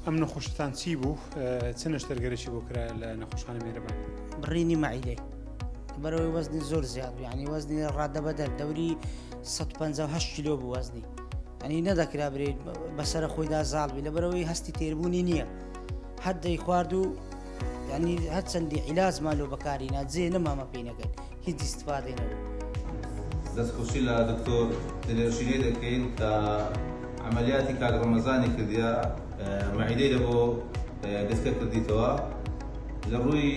ئەم نەخۆشیتان چی بوو چ نەشتەرگەرێکی بۆ کرا لە نەخۆشخانە مێرەبان بڕینی مەعیدەی بەرەوەی وەزنی زۆر زیاد بوو ینی وەزنی ڕادە بەدەر دەوری 158 کیلۆ بوو وەزنی ئەنی نەدەکرا برێت بەسرە خۆیدا زاڵبی لە بەرەوەی هەستی تێربوونی نییە هەر دەی خوارد و ینی هەرچەندی عیلاز مالۆ بەکاری ناجێ نەمامە پێینەکەن هیچ ئیستفادەی نەبوو. دەستخۆشی لە دکتۆر دلێر ژینێ دەکەین کە عەمەلیاتی کاک ڕەمەزانی کردیە مەعیدەی لە بۆ گەشکە کردیتەوە لە ڕووی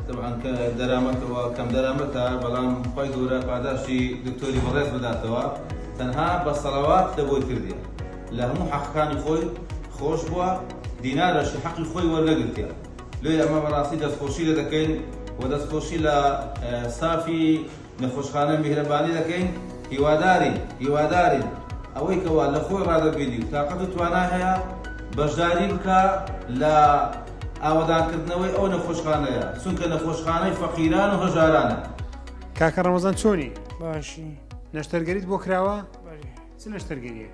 تەبعەن کە دەرامەتەوە کەم دەرامەتە بەڵام خۆی گەورە پاداشتی دکتۆری بەڕێز بداتەوە تەنها بە سەڵەوات لە بۆی کردیە لە هەموو حەقەکانی خۆی خۆش بووە دینارەشی حەقی خۆی وەرنەگرتیە. لۆیە ئەمە بەڕاستی دەستخۆشی لێ دەکەین و دەستخۆشی لە ستافی نەخۆشخانە میهرەبانی دەکەین هیوادارین هیوادارین ئەوەی کەوا لە خۆی ڕادەبینی و تاقەت و توانای هەیە بەشداری بکا لە ئاوەدانکردنەوەی ئەو نەخۆشخانەیە چونکە نەخۆشخانەی فەقیران و هەژارانە. کاکە ڕەمەزان چۆنی؟ باشی. نەشتەرگەریت بۆ کراوە؟ بەلی. چ نەشتەرگەریەک؟